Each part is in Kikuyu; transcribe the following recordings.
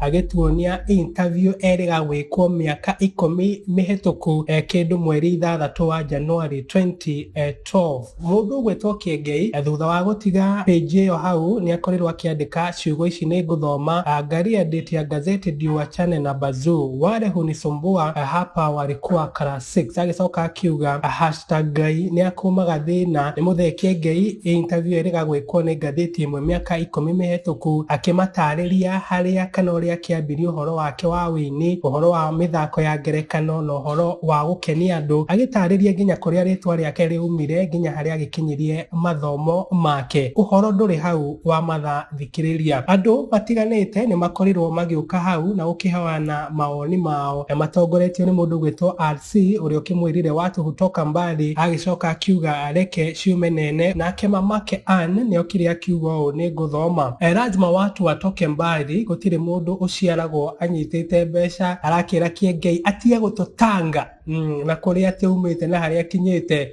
agĩtuonia interview erĩga gwĩkwo mĩaka ikũmi mĩhetũku eh, kĩndũ mweri ithathatũ wa Januari 2012 mũndũ ũgwĩtwo Kĩengei eh, thutha wa gũtiga page ĩyo hau nĩ akorirwo akĩandĩka ciugo ici nĩ ngũthoma ah, Ngaria date ya gazeti Ndiwa Chane na Bazuu wale hunisumbua eh, hapa walikuwa karasi Six agĩcoka akiuga hashtag Ngai nĩ akũmaga thĩna nĩ mũthekie Ngei ĩ interview ĩrĩga gwĩkwo nĩ ngathĩti ĩmwe mĩaka ikũmi mĩhetũku akĩmatarĩria harĩa kana ũrĩa kĩambirie ũhoro wake wa wĩini, ũhoro wa mĩthako ya ngerekano na ũhoro wa gũkenia andũ agĩtarĩria nginya kũrĩa rĩtwa rĩake rĩaumire nginya harĩa agĩkinyirie mathomo make. Ũhoro ndũrĩ hau wa mathaa thikĩrĩria. Andũ matiganĩte nĩ makorirwo magĩũka hau na gũkĩheana mawoni mao na matongoretio nĩ mũndũ ũgwĩtwo RC ũrĩa ũkĩmwĩrire watu hutoka mbali, agĩcoka akiuga reke ciume nene. Nake mamake Ann nĩ okire akiuga ũũ, nĩ ngũthoma. Eh, lazima watu watoke mbali, gũtirĩ mũndũ ũciaragwo anyitĩte mbeca, arakĩra Kĩengei atige gũtũtanga mm, na kũrĩa atĩ umĩte na harĩa akinyĩte.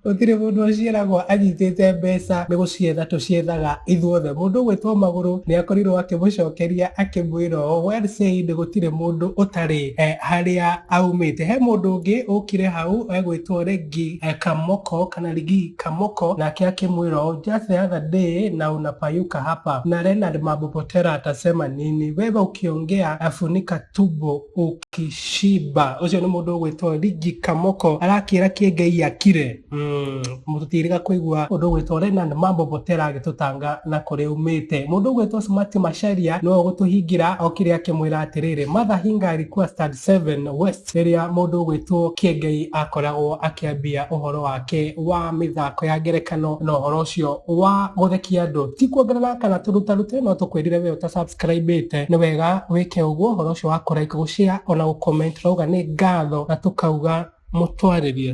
Gũtirĩ mũndũ ũciaragwo anyitĩte mbeca nĩ gũcietha tũciethaga ithuothe. Mũndũ ũgwĩtwo Magũrũ nĩ akorirwo akĩmũcokeria akĩmwĩra ũũ, Well said gũtirĩ mũndũ ũtarĩ harĩa aumĩte. He mũndũ ũngĩ ũkire hau egwĩtwo Regi Kamoko kana Rigi Kamoko nake akĩmwĩra ũũ, Just the other day na unapayuka hapa na Leonard Mabubotera atasema nini? Wewe ukiongea funika Tubo Okishiba ucio ni mundu ugwitwo Ligi Kamoko arakira kiengei akire mm, mututiriga kuigua undu ugwitwo Renan Mambo Botera agitutanga na kuria umite mundu ugwitwo Smart Masharia no gutuhingira okire akimwira atiriri Matha Hingari kwa Stad 7 West riria mundu ugwitwo Kiengei akoragwo akiambia uhoro wake wa mithako ya ngerekano na uhoro ucio wa guthekia andu ti kuongerera kana turutarute no tukwirire we uta subscribe subscribĩte nĩ wega wĩke ũguo ũhoro ũcio wa kũ like gũ share ona gũ comment rauga nĩ ngatho na tũkauga mũtwarĩrie